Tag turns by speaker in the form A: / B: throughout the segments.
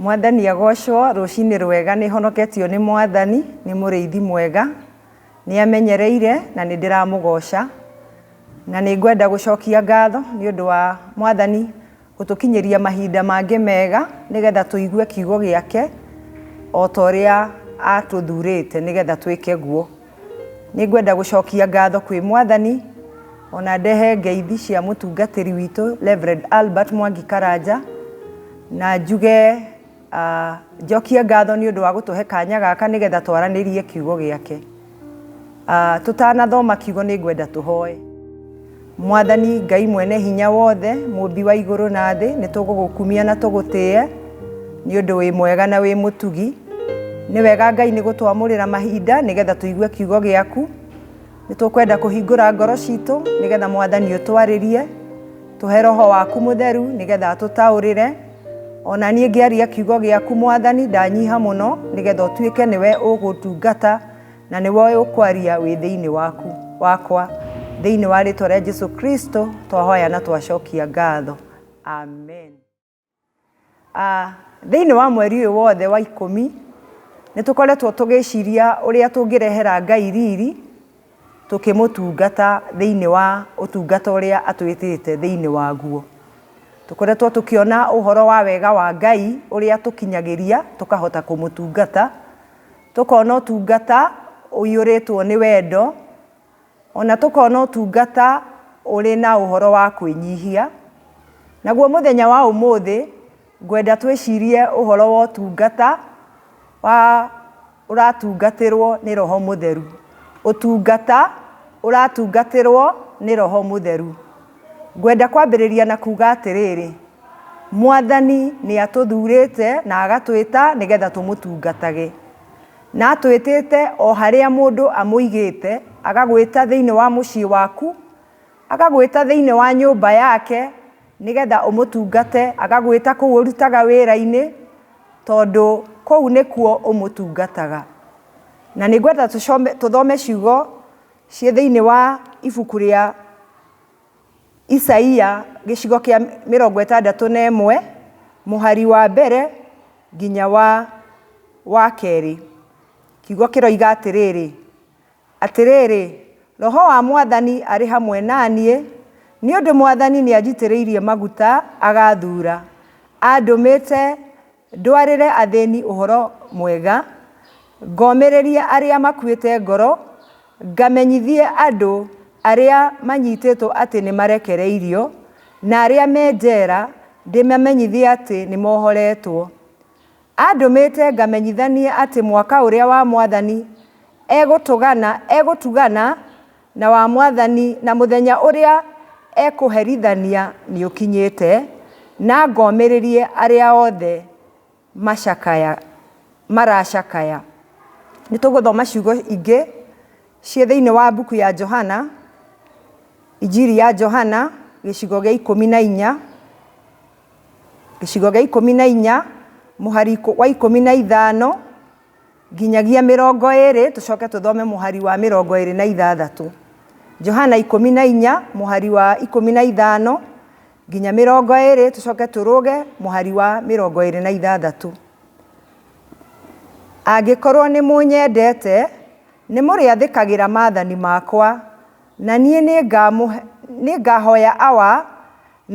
A: mwathani agocwo rũcinĩ rwega nĩ honoketio nĩ mwathani nĩ mũrĩithi mwega nĩ amenyereire na nĩ ndĩramũgoca na nĩ ngwenda gũcokia ngatho nĩ ũndũ wa mwathani Gũtũkinyĩria mahinda mangĩ mega nĩgetha tũigue kiugo gĩake o ta ũrĩa atũthurĩte nĩgetha twĩke guo. Nĩ ngwenda gũcokia ngatho kwĩ mwathani ona ndehe ngeithi cia mũtungatĩri witũ Reverend Albert Mwangi Karanja na njuge Njokie ngatho nĩ ũndũ wa gũtũhe kanya gaka nĩgetha twaranĩrie kiugo gĩake. Tũtanathoma kiugo nĩ ngwenda tũhoe. Mwathani Ngai mwene hinya wothe, mũmbi wa igũrũ na thĩ, nĩ tũgũgũkumia na tũgũtĩe nĩ ũndũ wĩ mwega na wĩ mũtugi. Nĩ wega Ngai nĩ gũtwamũrĩra mahinda nĩgetha tũigue kiugo gĩaku. Nĩ tũkwenda kũhingũra ngoro citũ nĩgetha mwathani ũtwarĩrie, tũhe roho waku mũtheru nĩgetha atũtaũrĩre. Ona niĩ ngĩaria kiugo gĩaku mwathani ndanyiha mũno nĩgetha ũtuĩke nĩwe ũgũtungata na nĩwe ũkwaria wĩ thĩinĩ waku wakwa. Thĩinĩ wa rĩtwa rĩa Jesu Kristo twahoya na twacokia ngatho. Amen. Thĩinĩ wa mweri ũyũ wothe wa ikũmi, nĩ tũkoretwo tũgĩciria ũrĩa tũngĩrehera Ngai riri tũkĩmũtungata thĩinĩ wa ũtungata ũrĩa atwĩtĩte thĩinĩ waguo. Tũkoretwo tũkĩona ũhoro wa wega wa Ngai ũrĩa atũkinyagĩria tũkahota kũmũtungata, tũkona ũtungata ũiyũrĩtwo nĩ wendo O na tũkona ũtungata ũrĩ na ũhoro wa kwĩnyihia. Naguo mũthenya wa ũmũthĩ, ngwenda twĩcirie ũhoro wa ũtungata wa ũratungatĩrwo nĩ Roho Mũtheru. Ũtungata ũratungatĩrwo nĩ Roho Mũtheru. Ngwenda kwambĩrĩria na kuuga atĩrĩrĩ, Mwathani nĩ atũthurĩte na agatwĩta nĩgetha tũmũtungatage. Na atwĩtĩte o harĩa mũndũ amũigĩte, agagwĩta thĩinĩ wa mũciĩ waku, agagwĩta thĩinĩ wa nyũmba yake nĩ getha ũmũtungate, agagwĩta kũu ũrutaga wĩra-inĩ tondũ kũu nĩkuo ũmũtungataga. Na nĩ ngwenda tũthome ciugo ciĩ thĩinĩ wa ibuku rĩa... Isaia gĩcigo kĩa mĩrongo ĩtandatũ na ĩmwe mũhari wa mbere nginya wa wa kerĩ. Kiugo kĩroiga atĩrĩrĩ, atĩrĩrĩ, Roho wa Mwathani arĩ hamwe na niĩ, nĩ ũndũ Mwathani nĩ anjitĩrĩirie maguta agathura. Andũmĩte Ndwarĩre athĩĩni ũhoro mwega, ngomĩrĩrie arĩa makuĩte ngoro, ngamenyithie andũ arĩa manyiitĩtwo atĩ nĩmarekereirio, na arĩa me njeera ndĩmamenyithie atĩ nĩmohoreetwo. Andũmĩĩte ngamenyithanie atĩ mwaka ũrĩa wa Mwathani egũtũgana, egũtugana. Na wa Mwathani, na mũthenya ũrĩa ekũherithania nĩũkinyĩte, na ngomĩrĩrie arĩa othe macakaya, maracakaya. Nĩtũgũthoma ciugo ingĩ ciĩ thĩinĩ wa mbuku ya Johana, injiri ya Johana, gĩcigo gĩa ikũmi na inya, gĩcigo gĩa ikũmi na inya, mũhari wa ikũmi na ithano. Nginyagia mĩrongo ĩĩrĩ, tũcoke tũthome mũhari wa mĩrongo ĩĩrĩ na ithathatũ. Johana ikũmi na inya, mũhari wa ikũmi na ithano, nginya mĩrongo ĩĩrĩ, tũcoke tũrũge mũhari wa mĩrongo ĩĩrĩ na ithathatũ. Angĩkorwo nĩ mũnyendete, nĩ mũrĩathĩkagĩra maathani makwa, na niĩ nĩ ngahoya Awa,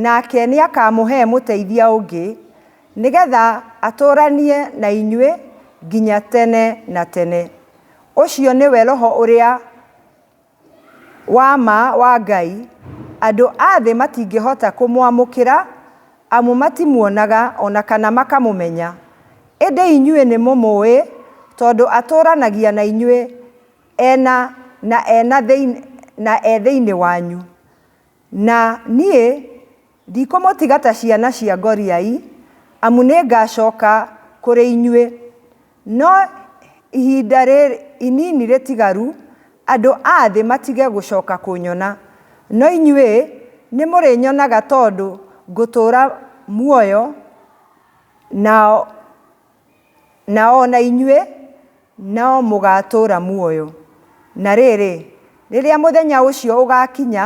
A: nake nĩ akamũhe mũteithia ũngĩ, Nĩgetha atũũranie na inyuĩ nginya tene na tene. Ũcio nĩwe Roho ũrĩa wa ma wa Ngai. Andũ a thĩ matingĩhota kũmwamũkĩra, amu matimuonaga o na kana makamũmenya. Ĩndĩ inyuĩ nĩmũmũũĩ, tondũ atũũranagia na inyuĩ e na na e thĩinĩ wanyu, na niĩ Ndikũmũtiga ta ciana cia ngoriai, amu nĩngacooka kũrĩ inyuĩ. No ihinda rĩrĩ inini rĩtigaru, andũ a thĩ matige gũcooka kũnyona, no inyuĩ nĩmũrĩnyonaga tondũ ngũtũũra muoyo, nao na o na inyuĩ no mũgaatũũra muoyo. Na rĩrĩ, rĩrĩa mũthenya ũcio ũgaakinya,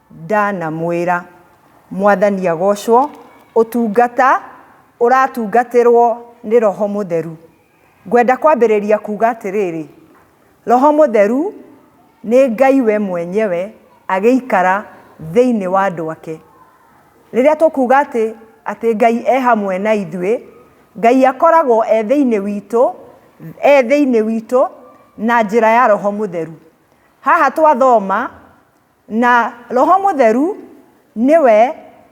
A: Ndanamwĩra, Mwathani agoocwo, ũtungata ũratungatĩrwo nĩ Roho Mũtheru. Ngwenda kwambĩrĩria kuuga atĩrĩrĩ, Roho Mũtheru nĩ Ngai we mwenyewe agĩikara thĩinĩ wa andũ ake. Rĩrĩa tũkuuga atĩ, atĩ Ngai e hamwe na ithuĩ, Ngai akoragwo e thĩinĩ witũ, e thĩinĩ witũ na njĩra ya Roho Mũtheru. Haha twathoma, Na Roho Mũtheru nĩwe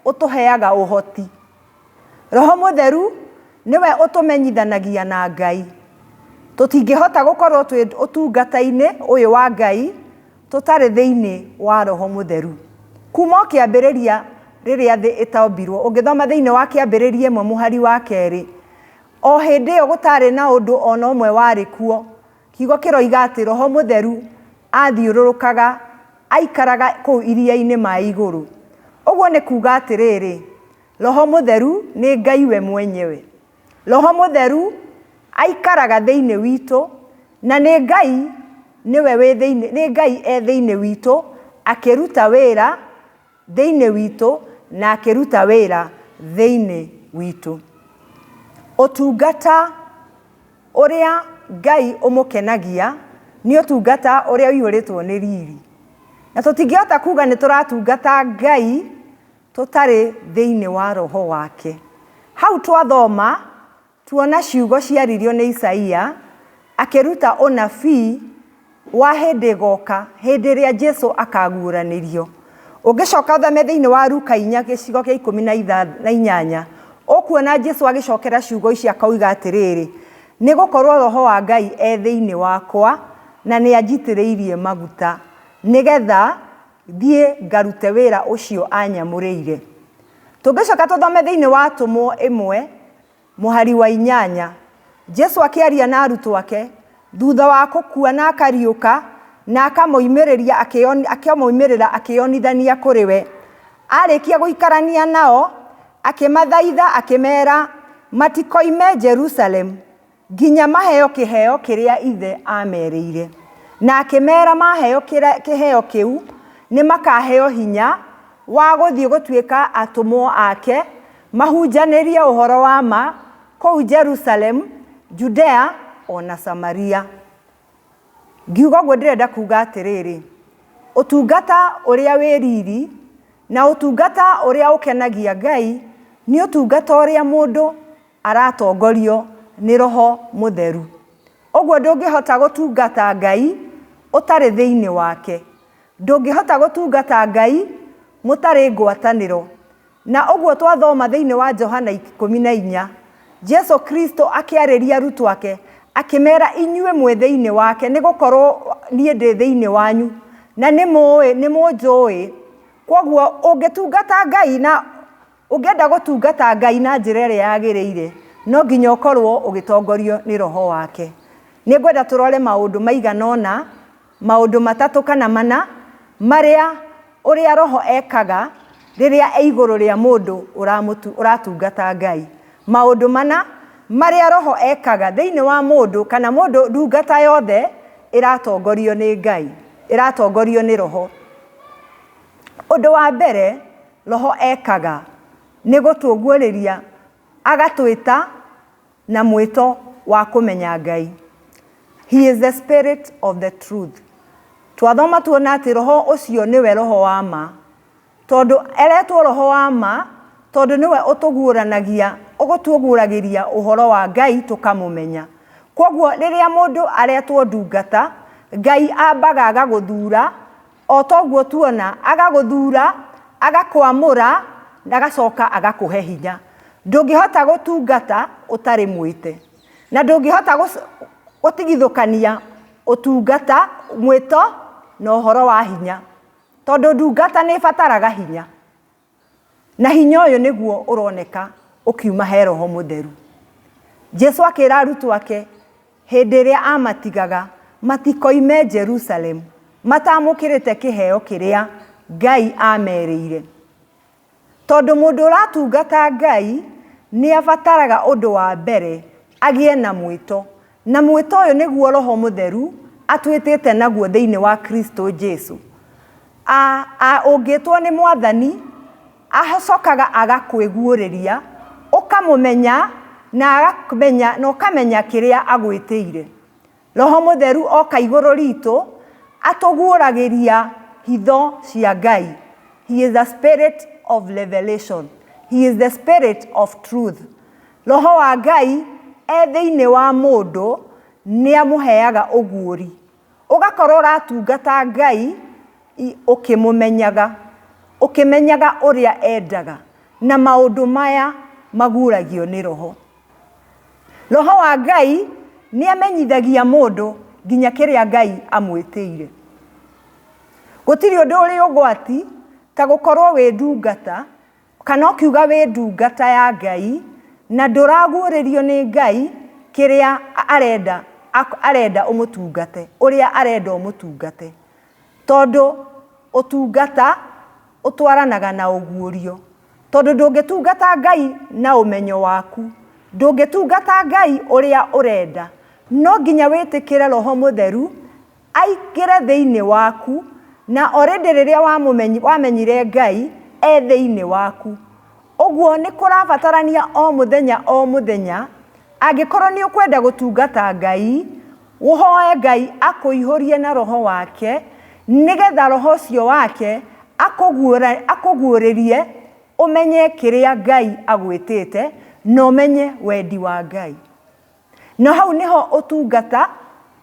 A: ũtũheaga ũhoti. Roho Mũtheru nĩwe ũtũmenyithanagia na Ngai. Tũtingĩhota gũkorwo twĩ ũtungata-inĩ ũyũ wa Ngai tũtarĩ thĩinĩ wa Roho Mũtheru. Kuuma o kĩambĩrĩria rĩrĩa thĩ ĩtombirwo, ũngĩthoma thĩinĩ wa Kĩambĩrĩria ĩmwe mũhari wa kerĩ, o hĩndĩ ĩyo gũtaarĩ na ũndũ o na ũmwe warĩ kuo, Kiugo kĩroiga atĩ roho mũtheru aathiũrũrũkaga aikaraga kũu iria-inĩ ma igũrũ. Ũguo nĩ kuuga atĩrĩrĩ, roho mũtheru nĩ Ngai we mwenyewe. Roho mũtheru aikaraga thĩinĩ witũ, na nĩ Ngai nĩwe wĩ thĩinĩ, nĩ Ngai e thĩinĩ witũ akĩruta wĩra. Thĩinĩ witũ na akĩruta wĩra thĩinĩ witũ. Ũtungata ũrĩa Ngai ũmũkenagia nĩ ũtungata ũrĩa ũihũrĩtwo nĩ riri. Na tũtingĩhota kuuga nĩ tũratungata Ngai tũtarĩ thĩinĩ wa Roho wake. Hau twathoma, Tuona ciugo ciaririo nĩ Isaia akĩruta ũnabii wa hĩndĩ ĩgoka hĩndĩ ĩrĩa Jesu akaguũranĩrio. Ũngĩcoka ũthome thĩinĩ wa Luka inya gĩcigo gĩa ikũmi na inyanya, ũkuona Jesu agĩcokera ciugo ici akoiga atĩrĩrĩ, Nĩ gũkorũo Roho wa Ngai e thĩinĩ wakwa, na nĩ anjitĩrĩirie maguta nĩ getha thiĩ ngarute wĩra ũcio anyamũrĩire. Tũngĩcoka tũthome thĩinĩ wa Atũmwo ĩmwe Mũhari wa inyanya. Jesu akĩaria na arutwo ake thutha wa kũkua na akariũka na akamoimĩrĩria akĩomoimĩrĩra akĩonithania kũrĩ we. Arĩkia gũikarania nao, akĩmathaitha akĩmera matikoime Jerusalemu. Nginya maheo kĩheo kĩrĩa Ithe aamerĩire. Na akĩmeera maheo kĩheo kĩu, nĩ makaaheo hinya wa gũthiĩ gũtuĩka atũmwo ake, mahunjanĩrie ũhoro wa ma kũu Jerusalemu, Judea, o na Samaria. Ngiuga ũguo ndĩrenda kuuga atĩrĩrĩ, ũtungata ũrĩa wĩ riri na ũtungata ũrĩa ũkenagia Ngai nĩ ũtungata ũrĩa mũndũ aratongorio nĩ roho mũtheru. Ũguo ndũngĩhota gũtungata Ngai ũtarĩ thĩinĩ wake. Ndũngĩhota gũtungata Ngai mũtarĩ ngwatanĩro. Na ũguo twathoma thĩinĩ wa Johana ikũmi na inya, Jesu Kristo akĩarĩria arutwo ake akĩmera inyuĩ mwĩ thĩinĩ wake nĩ gũkorwo niĩ ndĩ thĩinĩ wanyu na nĩ mũnjũĩ. Kwoguo ũngĩtungata Ngai na Ũngĩenda gũtungata Ngai na njĩra ĩrĩa yagĩrĩire, no nginya ũkorũo ũgĩtongorio nĩ roho wake. Nĩ ngwenda tũrore maũndũ maigana ũna, maũndũ matatũ kana mana marĩa ũrĩa roho ekaga rĩrĩa e igũrũ rĩa mũndũ ũratungata Ngai. Maũndũ mana marĩa roho ekaga thĩinĩ wa mũndũ kana mũndũ ndungata yothe ĩratongorio nĩ Ngai, ĩratongorio nĩ roho. Ũndũ wa mbere... Roho ekaga nĩ gũtũguũrĩria agatwĩta na mwĩto wa kũmenya Ngai. He is the spirit of the truth. Twathoma tuona atĩ Roho ũcio nĩwe Roho wa ma. Tondũ eretwo Roho wa ma, tondũ nĩwe ũtũguũranagia, ũgũtũguũragĩria ũhoro wa Ngai tũkamũmenya. Kwoguo rĩrĩa mũndũ aretwo ndungata, Ngai ambaga agagũthura o ta ũguo tuona, agagũthuura, agakwamũra, na agacoka agakũhe hinya. Ndũngĩhota gũtungata ũtarĩ mwĩte, na ndũngĩhota gũtigithũkania ũtungata, mwĩto, na ũhoro wa hinya, tondũ ndungata nĩ ĩbataraga hinya. Na hinya ũyũ nĩguo ũroneka ũkiuma he Roho Mũtheru. Jesu akĩra arutwo ake hĩndĩ ĩrĩa aamatigaga matikoime Jerusalemu mataamũkĩrĩte kĩheo kĩrĩa Ngai aamerĩire. Tondũ mũndũ ũratungata Ngai nĩ abataraga ũndũ wa mbere agĩe na mwĩto Na mwĩto ũyũ nĩguo Roho Mũtheru atwĩtĩte naguo thĩinĩ wa Kristo Jesu. A, a, ũngĩtwo nĩ Mwathani, acokaga agakwĩguũrĩria, ũkamũmenya, na akamenya, na ũkamenya kĩrĩa agwĩtĩire. Roho Mũtheru oka igũrũ ritũ, atũguũragĩria hitho cia Ngai. He is the spirit of revelation. He is the spirit of truth. Roho wa Ngai e thĩinĩ wa mũndũ nĩ amũheaga ũguũri. Ũgakorwo ũratungata Ngai ũkĩmũmenyaga, ũkĩmenyaga ũrĩa endaga. Na maũndũ maya maguũragio nĩ roho. Roho wa Ngai nĩ amenyithagia mũndũ nginya kĩrĩa Ngai amwĩtĩire. Gũtirĩ ũndũ ũrĩ ũgwati ta gũkorwo wĩ ndungata. kana ũkiuga wĩ ndungata ya Ngai na ndũraguũrĩrio nĩ Ngai kĩrĩa arenda arenda ũmũtungate, ũrĩa arenda ũmũtungate. Tondũ ũtungata ũtwaranaga na ũguũrio. Tondũ ndũngĩtungata Ngai na ũmenyo waku, ndũngĩtungata Ngai ũrĩa ũrenda, no nginya wĩtĩkĩre Roho Mũtheru Aingĩre thĩinĩ waku. Na orĩndĩ rĩrĩa wamenyire Ngai e thĩinĩ waku. Ũguo nĩ kũrabatarania o mũthenya o mũthenya, angĩkorwo nĩ ũkwenda gũtungata Ngai, ũhoe Ngai akũihũrie na roho wake, nĩ getha roho ũcio wake akũguũrĩrie ũmenye kĩrĩa Ngai agwĩtĩte na ũmenye wendi wa Ngai. Na hau nĩho ũtungata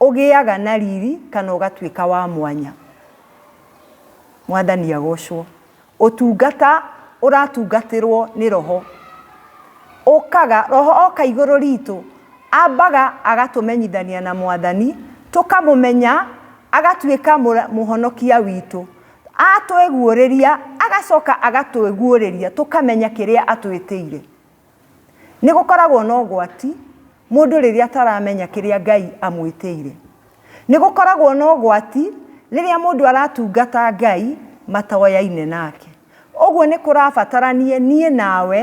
A: ũgĩaga na riri kana ũgatuĩka wa mwanya. Mwathani agocwo. Ũtungata ũratungatĩrwo nĩ roho. Ũkaga, roho oka igũrũ ritũ, ambaga agatũmenyithania na mwathani, tũkamũmenya, agatuĩka mũhonokia witũ. Atwĩguũrĩria, agacoka agatwĩguũrĩria, tũkamenya kĩrĩa atwĩtĩire. Nĩ gũkoragwo na ũgwati mũndũ rĩrĩa ataramenya kĩrĩa Ngai amwĩtĩire. Nĩ gũkoragwo na ũgwati rĩrĩa mũndũ aratungata Ngai matoyaine nake. Ũguo nĩ kũrabatarania niĩ nawe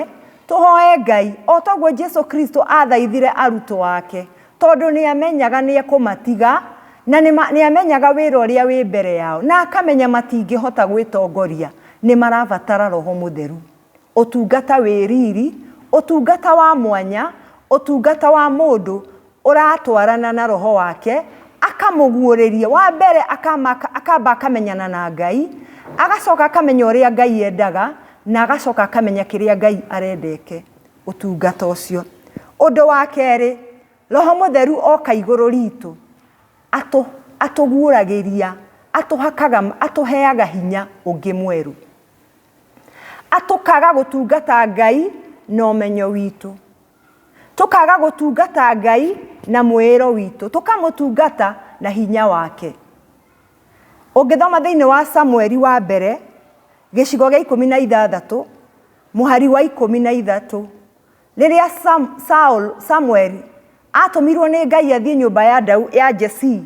A: tũhoe Ngai o toguo Jesu Kristo athaithire arutwo ake tondũ nĩ amenyaga nĩ ekũmatiga na nĩ amenyaga wĩra ũrĩa wĩ mbere yao na akamenya matingĩhota gwĩtongoria. Nĩ marabatara roho mũtheru. Ũtungata wĩ riri, ũtungata wa mwanya, ũtungata wa mũndũ ũratwarana na roho wake, akamũguũrĩria. Wa mbere akama akamba akamenyana na Ngai, agacoka akamenya ũrĩa Ngai endaga, na agacoka akamenya kĩrĩa Ngai arendete ũtungata ũcio. Ũndũ wa kerĩ, roho mũtheru oka igũrũ ritũ, atũ atũguũragĩria, atũhakaga, atũheaga hinya ũngĩ mwerũ. atũkaga gũtungata ngai na ũmenyo witũ tũkaga gũtungata ngai na mwĩĩro witũ tũkamũtungata na hinya wake ũngĩthoma thĩinĩ wa samueli wa mbere gĩcigo gĩa ikũmi na ithathatũ mũhari wa ikũmi na ithatũ Rĩrĩa Sam, Saul, Samueli atũmirwo nĩ Ngai athiĩ nyũmba ya, Dau, ya Jesii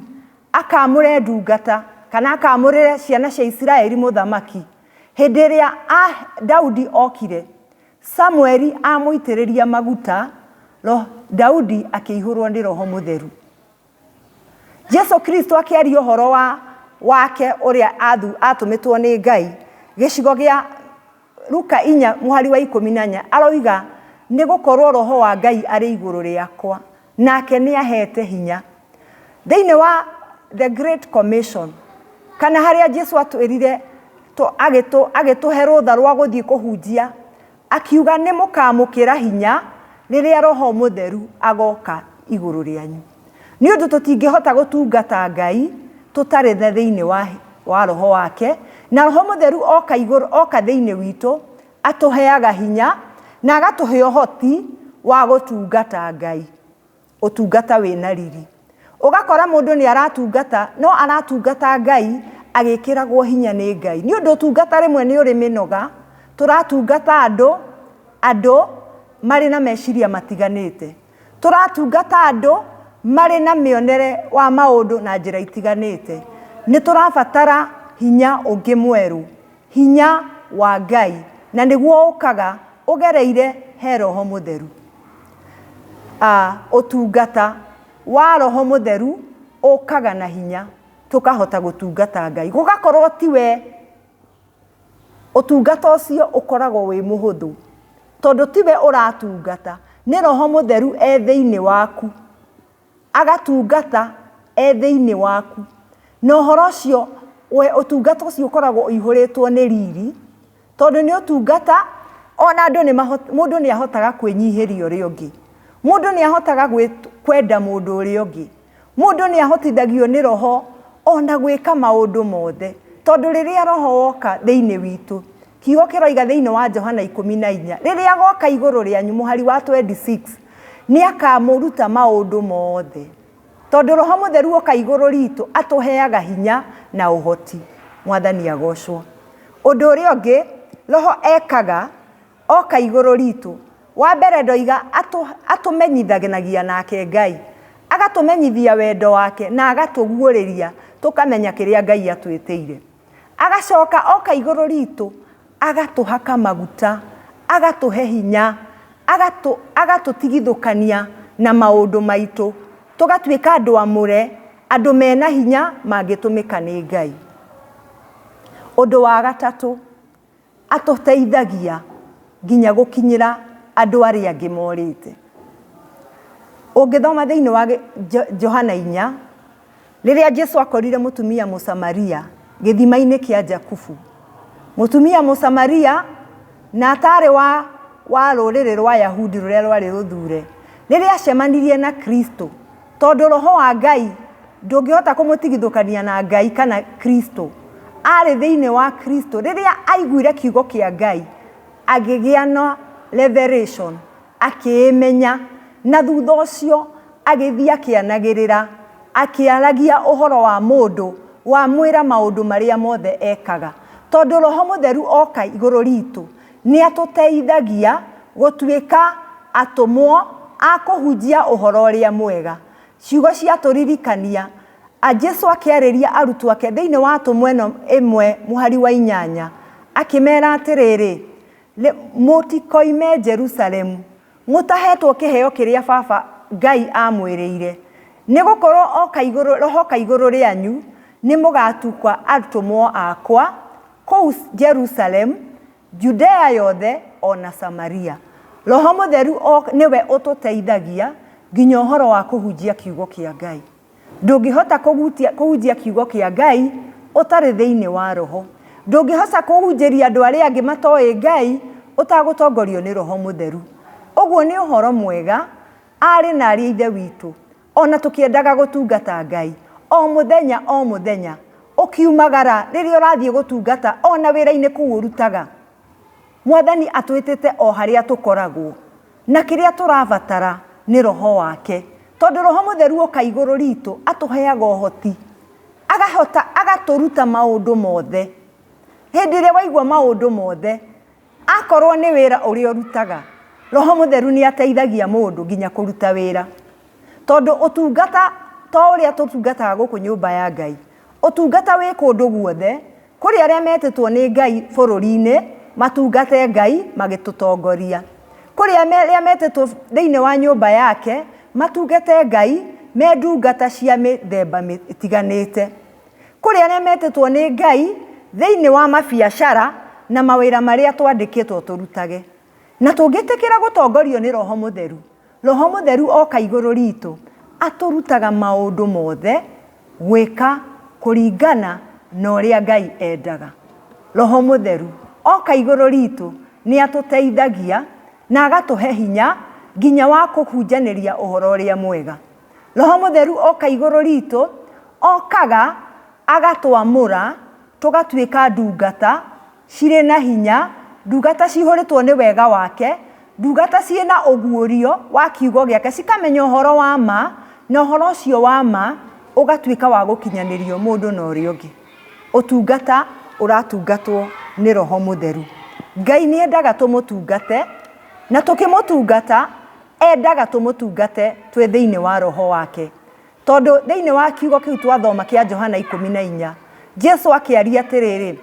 A: akamũre ndungata kana akamũrĩre ciana cia Isiraeli mũthamaki, hĩndĩ ĩrĩa a, Daudi okire, Samueli amũitĩrĩria maguta, roho, Daudi akĩihũrwo nĩ Roho Mũtheru. Jesu Kristo akĩaria ũhoro wa wake ũrĩa atũmĩtwo nĩ Ngai. Gĩcigo gĩa Luka inya mũhari wa ikũmi na inya aroiga, nĩ gũkorwo roho wa Ngai arĩ igũrũ rĩakwa, nake nĩ ahete hinya. Thĩinĩ wa The Great Commission, kana harĩa Jesu atwĩrire agĩtũhe rũtha rwa gũthiĩ kũhunjia, Akiuga, Nĩmũkaamũkĩra hinya rĩrĩa Roho Mũtheru agooka igũrũ rĩanyu. Nĩ ũndũ tũtingĩhota gũtungata Ngai tũtarĩ the thĩinĩ wa wa Roho wake, na Roho Mũtheru oka igũrũ, oka thĩinĩ witũ, atũheaga hinya na agatũhe ũhoti wa gũtungata Ngai. Ũtungata wĩ na riri. Ũgakora mũndũ nĩ aratungata, no aratungata Ngai agĩkĩragwo hinya nĩ Ngai. Nĩ ũndũ ũtungata rĩmwe nĩ ũrĩ mĩnoga, tũratungata andũ, andũ marĩ na meciria matiganĩte. Tũratungata andũ marĩ na mĩonere wa maũndũ na njĩra itiganĩte. Nĩ tũrabatara hinya ũngĩ mwerũ. Hinya wa Ngai, na nĩguo ũkaga ũgereire he Roho Mũtheru. A, ũtungata wa Roho Mũtheru ũkaga na hinya tũkahota gũtungata Ngai. Gũgakorwo ti we, ũtungata ũcio ũkoragwo wĩ mũhũthũ, tondũ ti we ũratungata, nĩ Roho Mũtheru e thĩinĩ waku. agatungata e thĩinĩ waku, na ũhoro ũcio, we, ũtungata ũcio ũkoragwo ũihũrĩtwo nĩ riri, tondũ nĩ ũtungata, o na andũ nĩ maho, mũndũ nĩ ahotaga kwĩnyihĩria ũrĩa ũngĩ, mũndũ nĩ ahotaga gwĩ, kwenda mũndũ ũrĩa ũngĩ, mũndũ nĩ ahotithagio nĩ Roho o na gwĩka maũndũ mothe, tondũ rĩrĩa Roho woka thĩinĩ witũ, kiugo kĩroiga thĩinĩ wa Johana ikũmi na inya, rĩrĩa goka igũrũ rĩanyu, mũhari wa twenty six, Nĩ akaamũruta maũndũ mothe. Tondũ Roho Mũtheru oka igũrũ riitũ, atũheaga hinya na ũhoti. Mwathani agocwo. Ũndũ ũrĩa ũngĩ Roho ekaga oka igũrũ riitũ, wa mbere ndoiga atũ, atũmenyithanagia nake Ngai. Agatũmenyithia wendo wake na agatũguũrĩria tũkamenya kĩrĩa Ngai atwĩtĩire. Agacoka oka igũrũ ritũ, agatũhaka maguta, agatũhe hinya, agatũ, agatũtigithũkania na maũndũ maitũ, tũgatuĩka andũ amũre, andũ mena hinya mangĩtũmĩka nĩ Ngai. Ũndũ wa gatatũ, Atũteithagia nginya gũkinyĩra andũ arĩa angĩ morĩte. Ũngĩthoma thĩinĩ wa Johana inya, rĩrĩa Jesu akorire mũtumia Mũsamaria gĩthima-inĩ kĩa Jakubu, mũtumia Mũsamaria na atarĩ wa, wa rũrĩrĩ rwa Yahudi rũrĩa rwarĩ rũthure, rĩrĩa acemanirie na Kristo, Tondũ roho wa Ngai ndũngĩhota kũmũtigithũkania na Ngai kana Kristo, aarĩ thĩinĩ wa Kristo, rĩrĩa aiguire kiugo kĩa Ngai, agĩgĩa na revelation, akĩĩmenya, na thutha ũcio agĩthiĩ akĩanagĩrĩra, akĩaragia ũhoro wa mũndũ wamwĩra maũndũ marĩa mothe ekaga. Tondũ roho mũtheru oka igũrũ ritũ, nĩ atũteithagia gũtuĩka atũmwo a kũhunjia ũhoro ũrĩa mwega. Ciugo cia tũririkania, a Jesu akĩarĩria arutwo ake thĩinĩ wa Atũmwo ĩno ĩmwe mũhari wa inyanya, akĩmera atĩrĩrĩ, Mũtikoime Jerusalemu mũtahetwo kĩheo kĩrĩa Baba Ngai aamwĩrĩire, nĩ gũkorũo oka igũrũ, roho oka igũrũ rĩanyu, nĩ mũgatukwa atũmwo akwa Kũu Jerusalemu, Judea yothe, o na Samaria. Roho Mũtheru o nĩwe ũtũteithagia nginya ũhoro wa kũhunjia kiugo kĩa Ngai. Ndũngĩhota kũhunjia kiugo kĩa Ngai ũtarĩ thĩinĩ wa Roho. Ndũngĩhota kũhunjĩria andũ arĩa angĩ matoĩ Ngai ũtagũtongorio nĩ Roho Mũtheru. Ũguo nĩ ũhoro mwega, aarĩ na aarĩ a Ithe witũ. O na tũkĩendaga gũtungata Ngai o mũthenya o mũthenya, ũkiumagara rĩrĩa ũrathiĩ gũtungata o na wĩra-inĩ kũu ũrutaga. Mwathani atwĩtĩte o harĩa tũkoragwo, na kĩrĩa tũrabatara nĩ Roho wake, tondũ Roho Mũtheru oka igũrũ ritũ atũheaga ũhoti, agahota agatũruta maũndũ mothe. Hĩndĩ ĩrĩa waigua maũndũ mothe, Akorũo nĩ wĩra ũrĩa ũrutaga, roho mũtheru nĩ ateithagia mũndũ nginya kũruta wĩra. Tondũ ũtungata to ũrĩa tũtungataga gũkũ nyũmba ya Ngai, ũtungata wĩ kũndũ guothe kũrĩ arĩa metĩtwo nĩ Ngai bũrũri-inĩ matungate Ngai magĩtũtongoria. Kũrĩ arĩa metĩtwo thĩinĩ wa nyũmba yake matungate Ngai me ndungata cia mĩthemba ĩtiganĩte. Kũrĩ arĩa metĩtwo nĩ Ngai thĩinĩ wa mabiacara na mawĩra marĩa twandĩkĩtwo tũrutage. Na tũngĩtĩkĩra gũtongorio nĩ roho mũtheru, roho mũtheru oka igũrũ ritũ atũrutaga maũndũ mothe gwĩka kũringana na ũrĩa Ngai endaga. Roho mũtheru oka igũrũ ritũ nĩ atũteithagia Na agatũhe hinya nginya wa kũhunjanĩria ũhoro ũrĩa mwega. Roho Mũtheru oka igũrũ riitũ, okaga agatwamũra tũgatuĩka ndungata cirĩ na hinya, ndungata cihũrĩtwo nĩ wega wake, ndungata ciĩ na ũguũrio wa Kiugo gĩake, cikamenya ũhoro wa ma, na ũhoro ũcio wa ma ũgatuĩka wa gũkinyanĩrio mũndũ na ũrĩa ũngĩ. Ũtungata ũratungatwo nĩ roho mũtheru. Ngai nĩ endaga tũmũtungate, na tũkĩmũtungata endaga tũmũtungate twĩ thĩinĩ wa roho wake. Tondũ thĩinĩ wa kiugo kĩu twathoma kĩa Johana ikũmi na inya, Jesu akĩaria atĩrĩrĩ,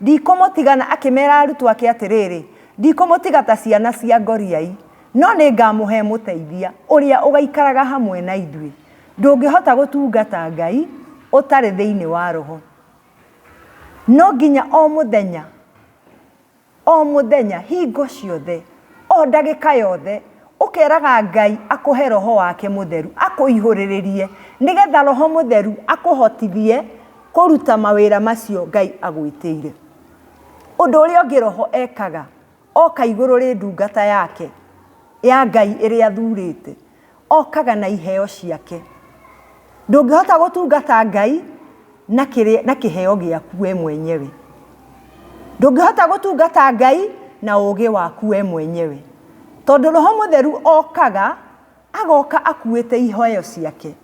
A: ndikũmũtigana, akĩmera arutwo ake atĩrĩrĩ, ndikũmũtiga ta ciana cia ngoriai, no nĩ ngamũhe mũteithia ũrĩa ũgaikaraga hamwe na ithuĩ. Ndũngĩhota gũtungata Ngai ũtarĩ thĩinĩ wa Roho. No nginya o mũthenya, o mũthenya, hingo ciothe, o ndagĩka yothe, ũkeraga Ngai akũhe Roho wake mũtheru, akũihũrĩrĩrie, nĩgetha Roho mũtheru akũhotithie kũruta mawĩra macio Ngai agwĩtĩire. Ũndũ ũrĩa ũngĩ Roho ekaga, Oka igũrũ rĩ ndungata yake, ya Ngai ĩrĩa athurĩte. Okaga na iheo ciake. Ndũngĩhota gũtungata Ngai na, kĩrĩ, na kĩheo gĩaku we mwenyewe. Ndũngĩhota gũtungata Ngai na ũũgĩ waku we mwenyewe. Tondũ Roho Mũtheru okaga Agooka akuuĩte iheo ciake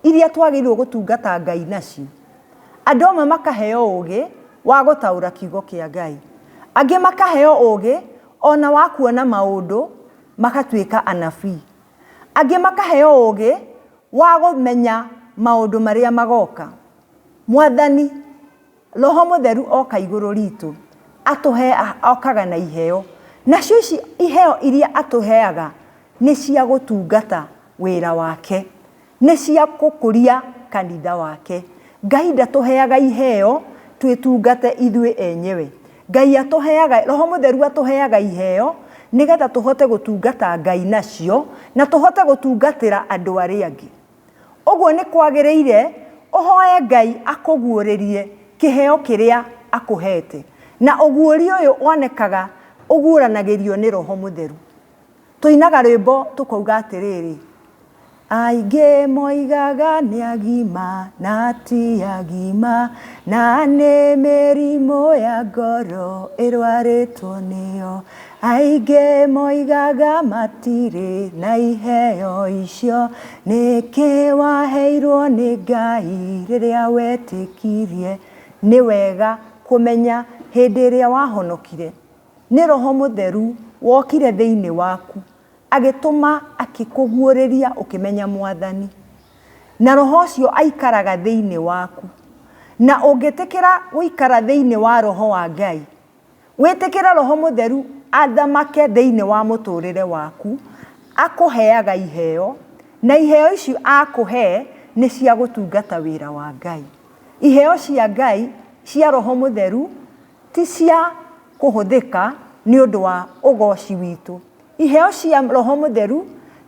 A: iria twagĩrĩirũo gũtungata Ngai nacio. Andũ amwe makaheo ũũgĩ wa gũtaũra Kiugo kĩa Ngai. Angĩ makaheo ũũgĩ o na wa kuona maũndũ magatuĩka anabii. Angĩ makaheo ũũgĩ wa kũmenya maũndũ marĩa magooka. Mwathani Roho Mũtheru oka igũrũ riitũ, atũheea, okaga na iheo. Nacio ici iheo iria atũheaga, nĩ cia gũtungata wĩra wake. Nĩ cia gũkũria kanitha wake. Ngai ndatũheaga iheo twĩtungate ithuĩ enyewe. Ngai atũheaga, Roho Mũtheru atũheaga iheo, nĩgetha tũhote gũtungata Ngai nacio, na tũhote gũtungatĩra andũ arĩa angĩ. Ũguo nĩ kwagĩrĩire ũhoe Ngai akũguũrĩrie kĩheo kĩrĩa akũheete. Na ũguũrio ũyũ wonekaga ũguũranagĩrio nĩ Roho Mũtheru. Tũinaga rwĩmbo tũkauga atĩrĩrĩ, Aingĩ moigaga nĩ agima na ti agima, na nĩ mĩrimũ ya ngoro ĩrwarĩtwo nĩyo. Aingĩ moigaga matirĩ na iheo icio. Nĩkĩ waheirwo nĩ Ngai rĩrĩa wetĩkirie? Nĩ wega kũmenya hĩndĩ ĩrĩa wahonokire, nĩ Roho Mũtheru wokire thĩinĩ waku, agĩtũma akĩkũguũrĩria ũkĩmenya Mwathani. Na Roho ũcio aikaraga thĩinĩ waku. Na ũngĩtĩkĩra gũikara thĩinĩ wa Roho wa Ngai, Wĩtĩkĩre Roho Mũtheru athamake thĩinĩ wa mũtũrĩre waku, akũheaga iheo, na iheo icio akũhe nĩ cia gũtungata wĩra wa Ngai. Iheo cia Ngai cia Roho Mũtheru ti cia kũhũthĩka nĩ ũndũ wa ũgooci witũ. Iheo cia roho mũtheru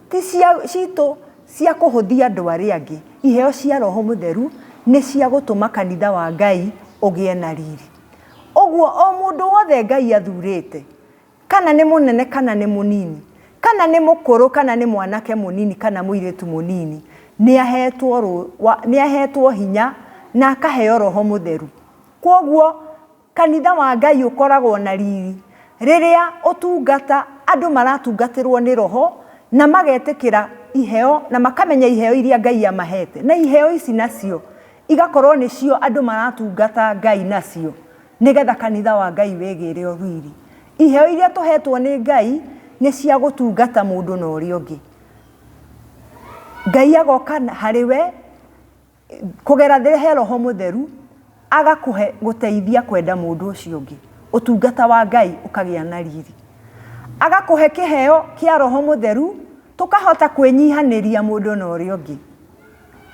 A: ti cia citũ cia kũhũthia andũ arĩa angĩ. Iheo cia roho mũtheru nĩ cia gũtũma kanitha wa Ngai ũgĩe na riri. Ũguo o mũndũ wothe Ngai athurĩte, kana nĩ mũnene kana nĩ mũnini, kana nĩ mũkũrũ kana nĩ mwanake mũnini kana mũirĩtu mũnini, nĩ ahetwo rũ, wa, nĩ ahetwo hinya na akaheo roho mũtheru. Kwoguo Kanitha wa Ngai ũkoragwo na riri rĩrĩa ũtungata andũ maratungatĩrwo nĩ Roho na magetĩkĩra iheo na makamenya iheo iria Ngai amahete. Na iheo ici nacio igakorwo nĩcio andũ maratungata Ngai nacio nĩgetha kanitha wa Ngai wĩgĩre o riri. Iheo iria tũhetwo nĩ Ngai nĩ cia gũtungata mũndũ na ũrĩa ũngĩ. Ngai agoka harĩ we. kũgera thĩ he roho mũtheru agakũhe gũteithia kwenda mũndũ ũcio ũngĩ ũtungata wa ngai ũkagĩa na riri agakũhe kĩheo kĩa roho mũtheru tũkahota kwĩnyihanĩria mũndũ na ũrĩa ũngĩ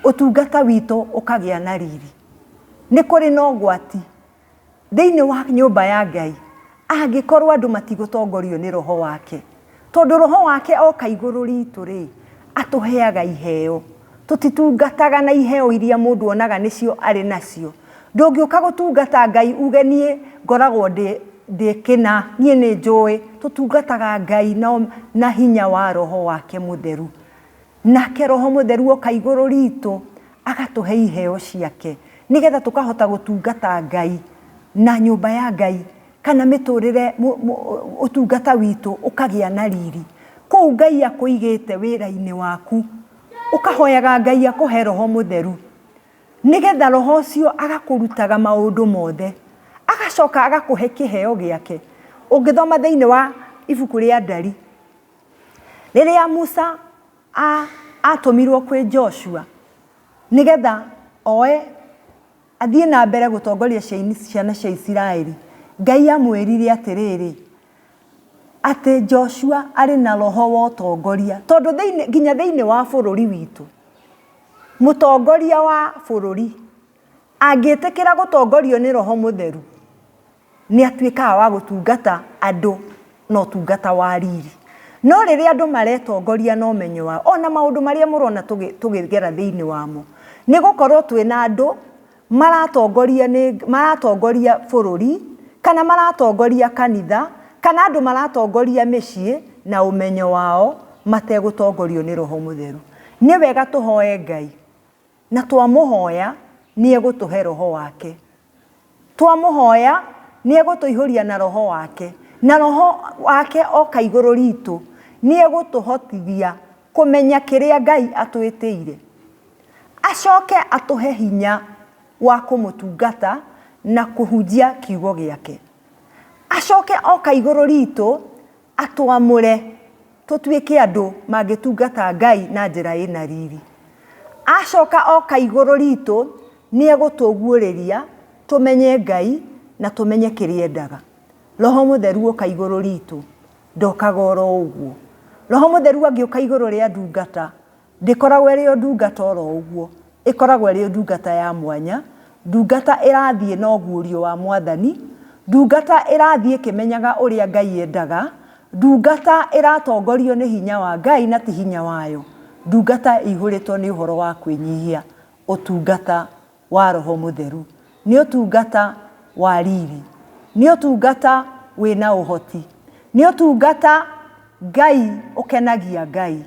A: ũtungata witũ ũkagĩa na riri nĩ kũrĩ na ũgwati thĩinĩ wa nyũmba ya Ngai angĩkorwo andũ matigũtongorio nĩ roho wake. Tondũ roho wake oka igũrũ ritũ rĩ, atũheaga iheo. Tũtitungataga na iheo iria mũndũ onaga nĩcio arĩ nacio. Ndũngĩũka gũtungata Ngai uge niĩ ngoragwo ndĩ ndĩ kĩna, niĩ nĩ njũĩ. Tũtungataga Ngai na na hinya wa roho wake mũtheru. Nake Roho Mũtheru oka igũrũ riitũ, agatũhe iheo ciake, nĩgetha tũkahota gũtungata Ngai, na nyũmba ya Ngai, kana mĩtũrĩre, ũtungata witũ ũkagĩa na riri. Kũu Ngai akũigĩte wĩra-inĩ waku, ũkahoyaga Ngai akũhe Roho Mũtheru, nĩgetha Roho ũcio agakũrutaga maũndũ mothe, agacoka agakũhe kĩheo gĩake. Ũngĩthoma thĩinĩ wa ibuku rĩa Ndari, rĩrĩa musa atũmirwo kwĩ joshua nĩgetha oe athiĩ na mbere gũtongoria ciana cia isiraeli ngai amwĩrire atĩrĩrĩ atĩ joshua arĩ na roho wa ũtongoria tondũ nginya thĩinĩ wa bũrũri witũ mũtongoria wa bũrũri angĩtĩkĩra gũtongorio nĩ roho mũtheru. Nĩ atuĩkaga wa gũtungata andũ na ũtungata wa riri. No rĩrĩa andũ maretongoria na ũmenyo wao, o na maũndũ marĩa mũrona tũkĩgera thĩinĩ wamo, nĩ gũkorũo twĩ na andũ maratongoria nĩ, maratongoria bũrũri, kana maratongoria kanitha, kana andũ maratongoria mĩciĩ na ũmenyo wao mategũtongorio nĩ Roho Mũtheru. Nĩ wega tũhoe Ngai. Na twamũhoya, nĩ egũtũhe Roho wake. Twamũhoya, nĩ egũtũihũria na Roho wake. Na Roho wake oka igũrũ ritũ, nĩ egũtũhotithia kũmenya kĩrĩa Ngai atwĩtĩire. Acoke atũhe hinya wa kũmũtungata na kũhunjia kiugo gĩake. Acoke oka igũrũ ritũ, Atũamũre tũtuĩke andũ mangĩtungata Ngai na njĩra ĩna riri. Acoka oka igũrũ ritũ, nĩ egũtũguũrĩria tũmenye Ngai na tũmenye kĩrĩa endaga. Roho Mũtheru oka igũrũ ritũ, ndokaga oro ũguo. Roho Mũtheru angĩũka igũrũ rĩa ndungata, Ndĩkoragwo ĩrĩ o ndungata o ro ũguo. Ĩkoragwo ĩrĩ ndungata ya mwanya, ndungata ĩrathiĩ na ũguũrio wa Mwathani, ndungata ĩrathiĩ ĩkĩmenyaga ũrĩa Ngai endaga, ndungata ĩratongorio nĩ hinya wa Ngai na ti hinya wayo, ndungata ĩihũrĩtwo nĩ ũhoro wa kwĩnyihia. Ũtungata wa Roho Mũtheru. Nĩ ũtungata wa riri. Nĩ ũtungata wĩ na ũhoti. Nĩ ũtungata Ngai ũkenagia Ngai.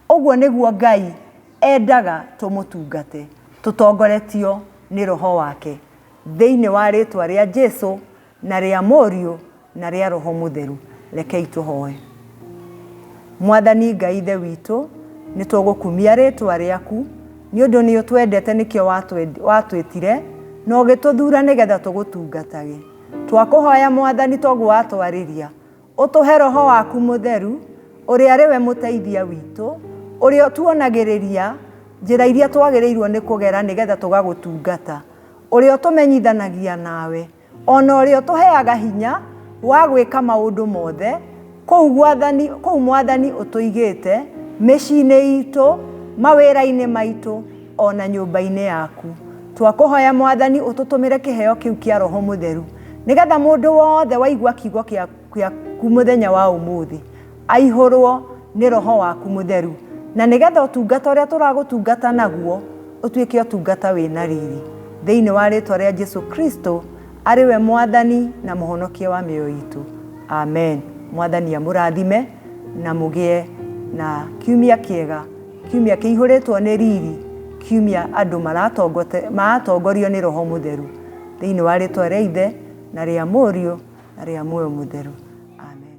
A: Ũguo nĩguo Ngai endaga tũmũtungate, tũtongoretio nĩ Roho wake. Thĩinĩ wa rĩĩtwa rĩa Jesu, Na rĩa Mũriũ, na rĩa Roho Mũtheru. Rekei tũhoe. Mwathani Ngai Ithe witũ, nĩ tũgũkumia rĩtwa rĩaku, nĩ ũndũ nĩ ũtwendete nĩkĩo watwĩtire, na ũgĩtũthura nĩgetha tũgũtungatage. Twakũhoya Mwathani toguo watwarĩria, ũtũhe Roho waku Mũtheru, ũrĩa arĩ we mũteithia witũ, ũrĩa ũtuonagĩrĩria njĩra iria twagĩrĩirwo nĩ kũgera nĩgetha tũgagũtungata, ũrĩa ũtũmenyithanagia nawe. O na ũrĩa ũtũheaga hinya wa gwĩka maũndũ mothe kũu gwathani, kũu Mwathani ũtũigĩte, mĩciĩ-inĩ itũ, mawĩra-inĩ maitũ, o na nyũmba-inĩ yaku. Twakũhoya Mwathani ũtũtũmĩre kĩheo kĩu kĩa Roho Mũtheru, nĩgetha mũndũ wothe waigua kiugo kĩa yaku mũthenya wa ũmũthĩ aihũrwo nĩ roho waku mũtheru na nĩgetha ũtungata ũrĩa tũragũtungata naguo ũtuĩke ũtungata wĩna riri thĩinĩ wa rĩtwa rĩa jesu kristo arĩ we mwathani na mũhonokia wa mĩoyo itũ amen mwathani amũrathime na mũgĩe na kiumia kĩega kiumia kĩihũrĩtwo nĩ riri kiumia andũ maratongote- maratongorio nĩ roho mũtheru thĩinĩ wa rĩtwa rĩa ithe na rĩa mũriũ rĩa muoyo mũtheru amen